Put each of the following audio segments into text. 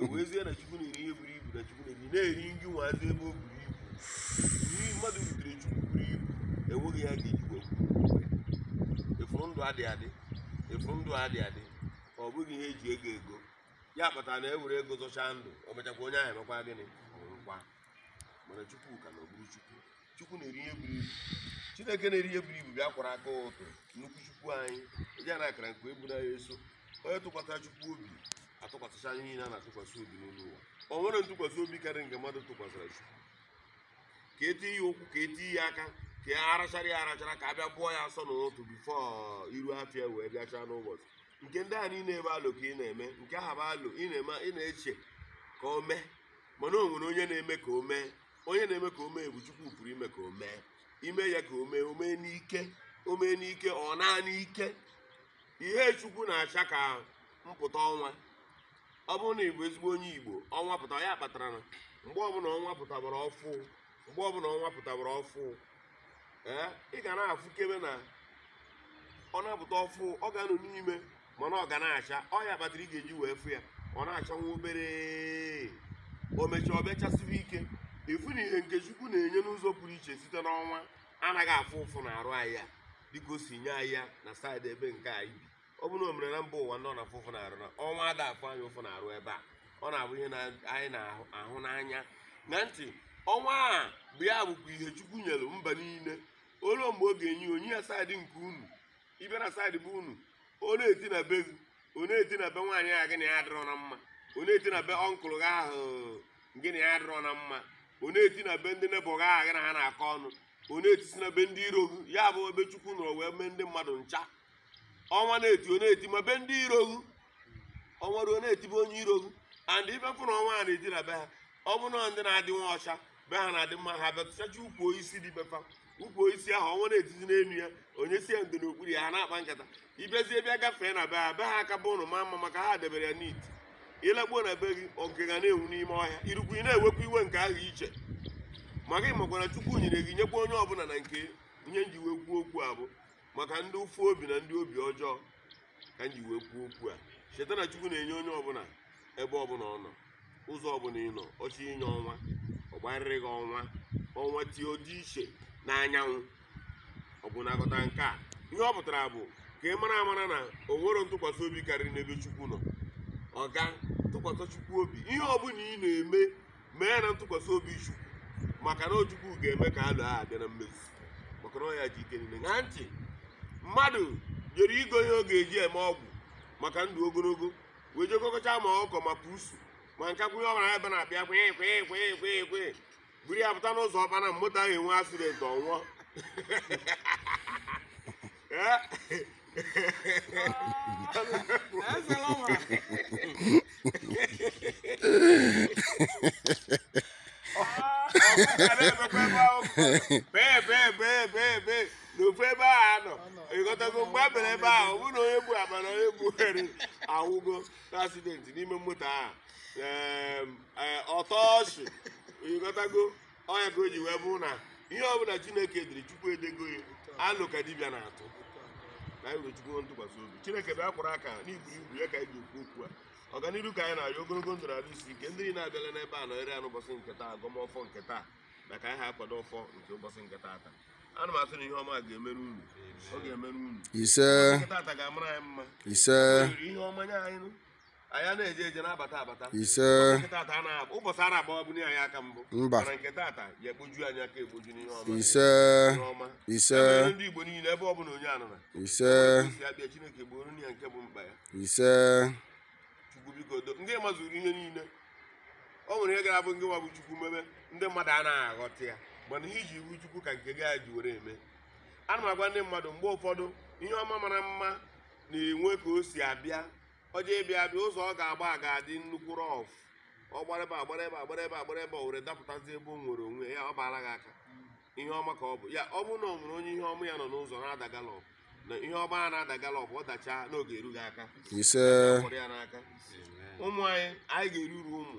ewezie na chukwu na-eri ihe buru ibu na chukwu na-eri na-eri nri nwazi ebe o buru ibu nri mmadụ butere chukwu buru ibu enweghị ihe a ga-eji wee ị fụrụ ndụ a dị adị ị fụrụ ndụ a dị adị ọ bụghị ihe eji ego ego ya kpatara na e were ego zọchaa ndụ o mechakwa onye ahụ emekwa gịnị ọ nwụkwa mana chukwu ka na ọ bụrụ chukwu chukwu na-eri ihe buru ibu chineke na-eri ihe buru ibu bịa kwara aka ụtụ nnukwu chukwu anyị ndị a na-akara nke eburu anyị eso onye tụkwasịra chukwu obi atụkwasịcha anyị niile a na-atụkwasị obi n'elu ụwa o nwere ntụkwasị obi karịrị nke mmadụ tụkwasịra chukwu ka e tee ya ụkwụ ka e tee ya aka ka a rachara ya arachara ka a bịa bụọ ya asọ n'ụtụtụ bifo iru afịa wee bịachaa n'ụbọchị nke ndị a niile ebe alụ ka ị na-eme nke aha bụ alụ ị na-eme ị na-eche ka o mee mana o nwere onye na-eme ka o mee onye na-eme ka o mee bụ chukwu pụrụ ime ka o mee ime ya ka o mee o mee n'ike o mee n'ike ọ naanị ike ihe chukwu na-acha ka mpụta ọnwa ọ bụrụ na ị bụ ezigbo onye igbo ọnwa pụta ya kpatara na mgbe ọbụla ọnwa pụtabara ọfụ mgbe ọbụla ọnwa pụtabara ọfụ ee ị ga na-afụkebe na ọ na-apụta ọfụ ọ ga-anọ n'ime mana ọ ga na-acha ọ ya kpatara ị ga-eji wee fụ ya ọ na-acha nwa obere o mechaa ọ bịa chasịwa ike ị fụ na ihe nke chukwu na-enye n'ụzọ pụrụ iche site n'ọnwa anaghị afụ ụfụ na arụ anyị ya dịka o si nye anyị ya na saịdị ebe nke anyị bi ọ bụrụ na o mere na mba ụwa ndị ọ na-afụ ụfụ na arụ na ọnwa ada afụ anyị ụfụ na arụ ebe a ọ na-abụ ihe na- anyị na-ahụ n'anya na nti ọnwa a bụ ya bụkwa ihe chukwu nyere mba niile o lu mgbe ọ ga-enye ya, o nye ya saịdị nke unu ị bịa na saịdị be unu ọ na-eti na be gị ọ na-eti na be nwaanyị a gị na ya adịrọ na mma ọ na-eti na be ọnkụl gị ahụ gị na ya adịrọ na mma ọ na-eti na be ndị nebọ gị ahụ gị na ha na-akọ ọnụ ọ na-etisi na be ndị iro gị ya bụ ebe chukwu nọrọ wee mee ndị mmadụ ncha ọnwa na-eti ọ na-eti ma be ndị iro gị ọnwa ruo na-eti be onye iro gị and ị bịa fụ na ọnwa a na-eti na be ha ọ bụ na ndị na-adị nwa ọcha be ha na-adị mma ha bịa tụchacha ukwu osisi dị be fa ukwu osisi ahụ ọnwa na-etizi n'elu ya o nyesịa ndo n'okpuru ya ha na-akpa nkata ị bịazie bịa gafee na be ha be ha aka bụ ụnọ ma mma maka ha debere ya niiti ị lakpuo na be gị oge ga na-enwu n'ime ọhịa irukwu ị na-ewekwa iwe nke ahụ iche maka ị makwara chukwu nyere gị nyekwa onye ọbụla na nke ihe m ji wee kwuo okwu a bụ maka ndị ụfụ obi na ndị obi ọjọọ ka m ji wee kwuo okwu a cheta na chukwu na-enye onye ọbụla ebe ọbụla ọ nọ ụzọ ọbụla ị nọ ọ chọ inye ọnwa ọ gbarịrị gị ọnwa ọnwa tie ọ dị iche na anyanwụ ọ bụ na aghọta nke a ihe ọ pụtara bụ ka ị mara amara na o nwere ntụkwasị obi karịrị n'ebe chukwu nọ ọ ga tụkwasị chukwu obi ihe ọbụla ị na-eme mee ya na ntụkwasị obi chukwu maka na chukwu ga-eme ka alo ahụ bịa na mmezu maka na ọ ya ji ike niile ṅaa ntị mmadụ jere igo ihe ọ ga-eji eme ọgwụ maka ndụ ogologo wee je gokọcha ma ọkụkọ ma pusu ma nke kwụnye ọbara ebe ọ na-abịa kwe kwe kwe kwe kwe buru ya pụta n'ụzọ ọ baa na moto ahụ enwee accident ọ nwụọ n'ofu ebe ahụ ọ nọ ịghọtago mgbe a bịara ebe ahụ ọ bụrụ na onye bu akpa a onye bu ihe a anwụgo n'accident n'ime moto ahụ ọ tọọ ọchị ịghọtago ọ ya ka o ji wee bụrụ na ihe ọbụla chineke dere chukwu edego ya alo ka dibịa na-atụ ka anyị nwee chukwu ntụkwasị obi chineke bịa kwụrụ aka n'ibu ibu ya ka anyị ji ekwu okwu a ọganihu ka anyị na-arịọ ogologo ndụ na arụ isi ike ndị niile abịala n'ebe a nọnyere ya n'ụbọchị nke taa agọm ọfọ nke taa na ka anyị ha akwado ọfọ nke ụbọchị nke taata ana m asị na ihe ọma ga-emere unu ọ ga-emere unu ise nke taata ga-amara anyị mma ise O were ihe ọma nye anyị nụ. anyị ana-eje eje na-abata abata ise ụbọchị a na-agbawabu anyị aka mbụ mana nke tata ya ekpoju anyị aka ekpoju n'ihe ọma ise ọma ise ndị Igbo niile ebe ọ bụla onye nọna ise ya bịa Chineke gboro ya nke bụ mkpa ya ise Chukwu biko doo ngị mazuru ihe niile o nwere ihe ga-abụ ngị nwa bụ Chukwu mebe ndị mmadụ anaghị aghọta ya mana ihe i ji bụ Chukwu ka nke gị ya ji were eme ana m agwa ndị mmadụ mgbe ụfọdụ ihe ọma mara mma na-enwe ka o si abịa ọ chọọ ịbịa abịa ụzọ ọ ga-agba ga-adị nnukwu rough ọ gbara ebe a gbara ebe a gbara ebe a gbara ebe o were dapụtazi ebe o nwere onwe ya ọ baara gị aka ihe ọma ka ọ bụ ya ọ bụrụ na ọ nwere onye ihe ọma ya nọ n'ụzọ na-ada gallop na ihe ọma a na-ada gallop ọ dachaa n'oge eru gị aka ise n'aka ụmụ anyị anyị ga-eri uru ụmụ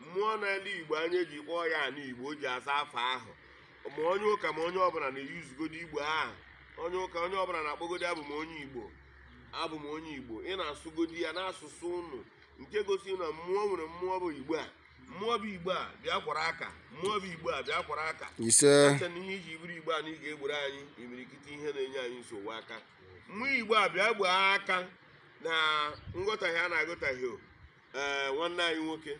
mmụọ n'ala igbo anyị ji kpọọ ya ala igbo o ji aza afa ahụ ma onye ụka ma onye ọbụla na-eyuzugodi igbo ahụ onye ụka onye ọbụla na-akpọgodi abụ m onye igbo abụ m onye igbo ị na-asụgodi ya n'asụsụ unu nke gosiri na mmụọ nwere mmụọ bụ igbo a mmụọ bụ igbo a bịa kwara aka mmụọ bụ igbo a bịa kwara aka ise acha na ihe i ji bụrụ igbo a na ị ga-egboro anyị imirikiti ihe na-enye anyị nsogbu a ka mmụọ igbo a bịa gboo aka na nghọtahie a na-aghọtahie o ee nwanne anyị nwoke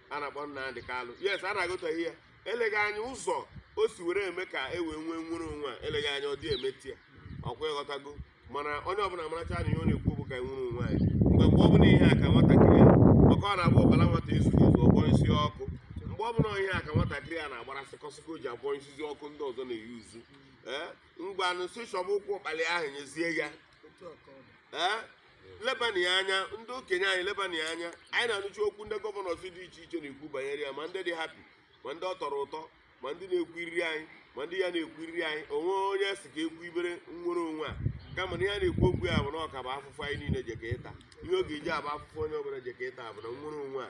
a na-akpọ Nnamdi Kalu yes a na-aghọtahie ya eleghị anya ụzọ o si were eme ka e wee nwee nwere onwe a eleghị anya ọ dị emeta ya ọkwa ịghọtago mana onye ọbụla maracha na ihe ọ na-ekwu bụ ka e nwere onwe anyị mgbe mgbe ọ bụla ị hụ aka nwatakịrị maka ọ na-abụ ụkpala nwata ezughị ezu ọ bọsịa ọkụ mgbe ọ bụla ị hụ aka nwatakịrị a na-agbara sịkọsịkọ o ji abọsịzị ọkụ ndị ọzọ na-eyi uzu ee ngwanụ sị chọba ụkwụ ụkpala ahụ nyezie ya ee lebana ya anya ndị okenye anyị lebana ya anya anyị na-anụcha okwu ndị gọvanọs dị iche iche na-ekwu banyere ya ma ndị dị happy ma ndị ọ tọrọ ụtọ ma ndị na-ekwu iriri anyị ma ndị ya na-ekwu iriri anyị o nwe onye sị ka ekwu ibere nnwere onwe a kama na ihe a na-ekwu okwu ya bụ na ọ ka-abụ afụfụ anyị niile jeka ịta ihe ọ ga-eji abụ afụfụ onye ọbụla jeka ịta bụ na nnwere onwe a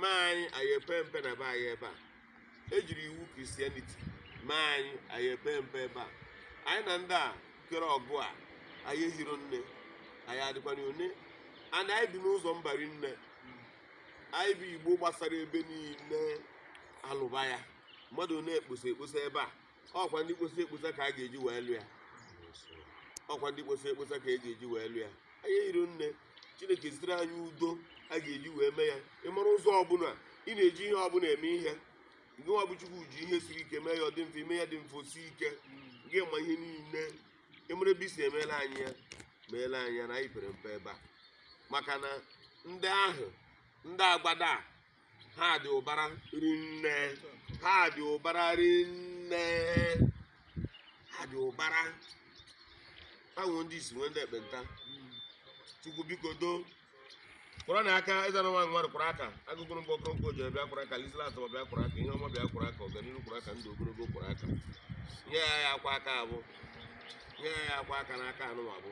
mee anyị anyị epe mpe na be anyị ebe a ejiri iwu christianity mee anyị anyị epe mpe ebe a anyị na ndị a kere ọgụ a anyị ehiro nne anyị adịkwana one and anyị bi n'ụzọ mba rinne anyị bụ igbo gbasara ebe niile alụba ya mmadụ na-ekposa ekposa ebe a ọkwa ndị kposa ekposa ka a ga-eji wee lụ ya ọkwa ndị kposa ekposa ka a ga-eji wee lụ ya anyị ehiro nne chineke zitere anyị udo a ga-eji wee mee ya ị mara ụzọ ọbụla ị na-eji ihe ọbụla eme ihe ngị nwa bụ chukwu ji ihe siri ike mee ya ọ dị mfe i mee ihe dị mfe o sie ike gị ma ihe niile ị mara ebe i si emeela anyị ya meela anyị ya na anyị pere mpe ebe a maka na ndị ahụ ndị agbada a ha dị ụbara rinne ha dị ụbara rinne ha dị ụbara ha nwee ndị isi nwee ndị ekpenta chukwu biko doo kwụrụ na aka eze na nwaanyị mmadụ kwụrụ aka agụgụrụ mgbe ọkụrụ nkoji bịa kwụrụ aka lizila atọma bịa kwụrụ aka ihe ọma bịa kwụrụ aka ọganiru kwụrụ aka ndụ ogologo kwụrụ aka onye aya akwụ aka a bụ onye aya akwụ aka n'aka a nụwa bụ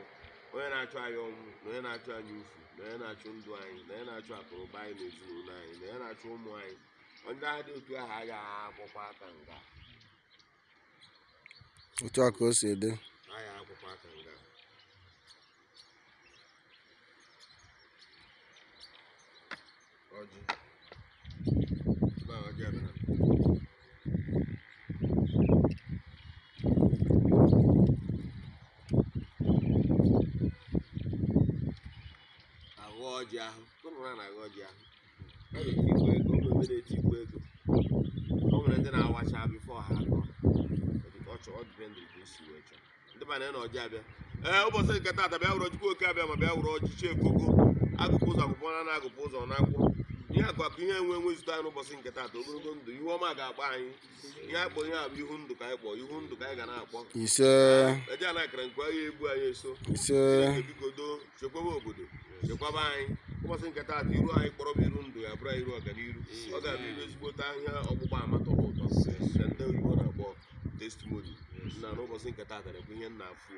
onye na-achụ anyị ọnwụ na onye na-achụ anyị ufu na onye na-achụ ndụ anyị na onye na-achụ akụrụba anyị na ezinụlọ anyị na onye na-achụ ụmụ anyị onye ha dị otu ahụ agaghị akwụkwa aka nga otu a ka o si dị agaghị akwụkwa aka nga ọjị na ọjị a bịara agọ ọjị ahụ ụmụ ha na-agọ ọjị ahụ a na-etikwa ego o nwe ndị na-etikwa ego o nwere ndị na-awacha before ha agọ ọ chọọ ọ depend ka o si wee chọọ ndị be anyị na ọjị abịa ee ụbọchị nke taata bịa wụrụ chukwu oke abiama bịa wụrụ ọchịchị ekoko agụpụ ụzọ agụpụ na na agụpụ ụzọ na akwụkwọ ihe akụ akụ ihe enwe enwe zute anyị n'ụbọchị nke taata ogologo ndụ ihu ọma ga-akpọ anyị ihe akpọ ihe a bụ ihu ndụ ka anyị kpọ ihu ndụ ka anyị ga na-akpọ ise eje a na-akara nke ahịa egbu anyị eso ise Chineke biko doo chekwaba obodo chekwaba anyị ụbọchị nke taata iru anyị kpọrọ bụ iru ndụ ya bụrụ anyị iru ọganiru ọ ga-abụ iru ezigbote ihe ọgbụgba ama tọrọ ụtọ nke ndị oyibo na-akpọ testimoni na n'ụbọchị nke taata na-ekwu ihe m na-afụ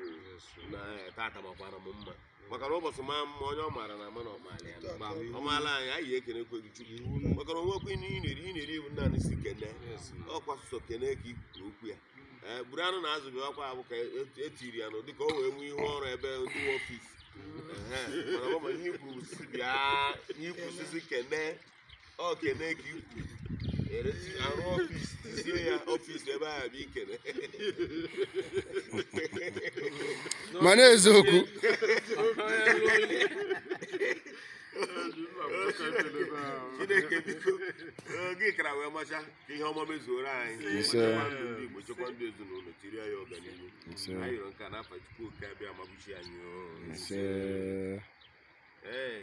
na eh, taata makwara m mma maka na ụbọchị maa mma onye ọ maara na ama na ọ maala ya ma ọ maala anyị anyị ekenekwee chukwu maka na onwekwa ihe ị na-eri ị na-eri iwu naanị sọ ekene ọkwa sọsọ ekene ka ikwuru okwu ya ee buru anụ na azụ bịa ọkwa abụ ka et- etiri ya nụ dịka o wee nwee ihu ọrụ ebe ndị nwe ọfisi Ehe, mana ọ bụ ma ihe ikwuru bụ si bịa ihe ikwuru si si kene ọ ekene ka ikwu ere arụ ọfis tizie ya ọfis ebe ahụ bụ ikene mana eziokwu chineke biko ee, gị kara wee macha ka ihe ọma mezuoro anyị Ise. chekwa ndụ ndị igbo chekwa ndụ ezinụlọ tiri ya ọganihu Ise. anyị rịọ nke a n'afa chukwu oke abịama bụ chi anyị oo. Ise. Ee.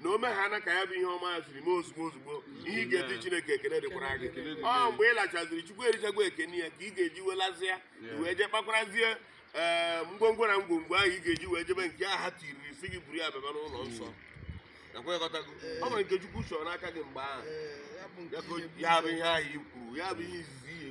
na o meghana ka ya bụ ihe ọma ya siri mee ozugbo ozugbo ihe ị ga-eti chineke ekene dịkwara gị Ekele dịkwara ọ gị. mgbe ị lachaziri chukwu erichagwo ekene ya ka ị ga-eji wee lazịa Yeah. wee jee kpakwarazie ee ngwongwo na ngwongwo ahụ ị ga-eji wee jebe nke ahụ a tiiri sị gị buru ya bịaba n'ụlọ nsọ nakwa ịghọtago o nwere nke chukwu chọrọ n'aka gị mgbe ahụ Ee, ya bụ nke Ya ka o- ihe- ya bụ ihe ahụ i kwuru ya bụ ihe izizi ihe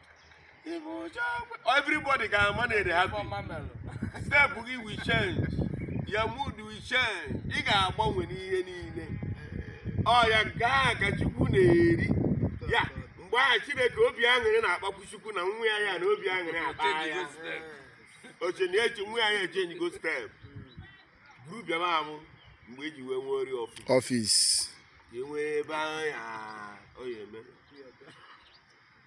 everybody ga-ama na ere happy step gị will change your mood will change ị ga-agbanwe n'ihe niile ọ ya gaa ka chukwu na-eri ya mgbe ahụ chineke obi aṅụrị na-akpakwu chukwu na nwa ya ya na obi aṅụrị akpa ya oche na eche nwa ya ya echenjigo step buru bịaba amụ mgbe eji wee nwee ori ọfịs ọfịs ka e nwee ebe ahụ ya ọ ya eme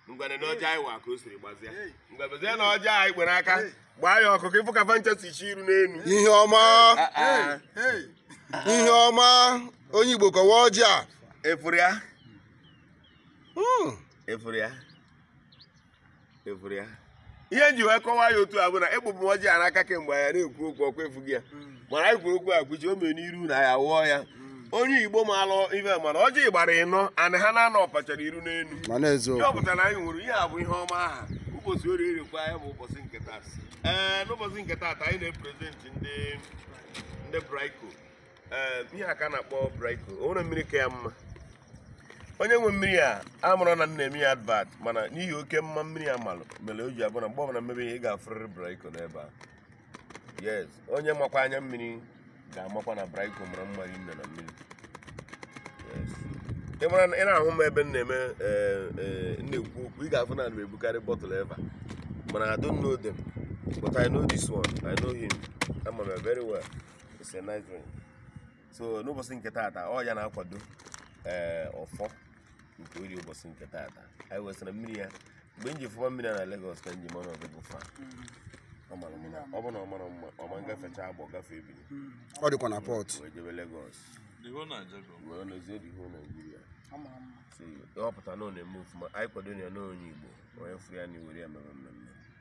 ngwa neenụ ọjị anyị wa ka o siri gbazia ngwebezie na ọjị anyị kwere aka gbaa ya ọkụ ka ị fụ ka fa ncha si chee iru n'elu ihe ọma ihe ọma onye igbo kọwa ọjị a ị fụrụ ya ị fụrụ ya ị fụrụ ya ihe m ji wee kọwaa ya otu a bụ na egbụbụ ọjị a n'aka kemgbe ya na-ekwu okwu ọkwa ị fụgo ya mana anyị kwuru okwu a kwuchi o mere n'iru na ya wụọ ya onye igbo maalụ ife ma na ọjị gbara ịnọ anị ha naanọ ọpachara iru n'elu ma na-ezo ihe ọ pụtara na anyị nwere ihe a bụ ihe ọma aha ụbọchị orie erekwa ya bụ ụbọchị nke taa ee n'ụbọchị nke taa anyị na-eprezentị ndị ndị braiko ee ihe a ka a na-akpọ briko o nwere mmiri ka ya mma onye nwe mmiri a amarọ na m na-eme ya advat mana n'ihi oke mma mmiri a malụ mere o ji abụ na mgbe ọbụla m mebe ihe ị ga-afụrịrị briko n'ebe a yes onye makwa anya mmiri ga-amakwa na briko mara mma rinne na mmiri Yes. ị mara na- ị na-ahụ m ebe m na-eme ee, ee, m na-ekwu okwu ị ga-afụ na ana m ebukarị bọtụl eva mana I don't know them but I know this one I know him ama m ya very well It's a nice drink. so n'ụbọchị nke taata ọ ya na-akwado ee ọfọ nke Eri ụbọchị nke taata anyị wesịrị mmiri ya mgbe m ji fụwa mmiri a na Lagos ka m ji mara ọdịbụ fa ọ mara mma ọ bụ na ọ mara mma ọ ma ngafecha Agbọ gafee Bini ọ dịkwa na Port wee jebe Lagos wee nọzie the whole Nigeria so ọ pụta na ọ na-eme ofuma anyị kwado ya na onye Igbo onye fụ ya nya were ya mere mmemme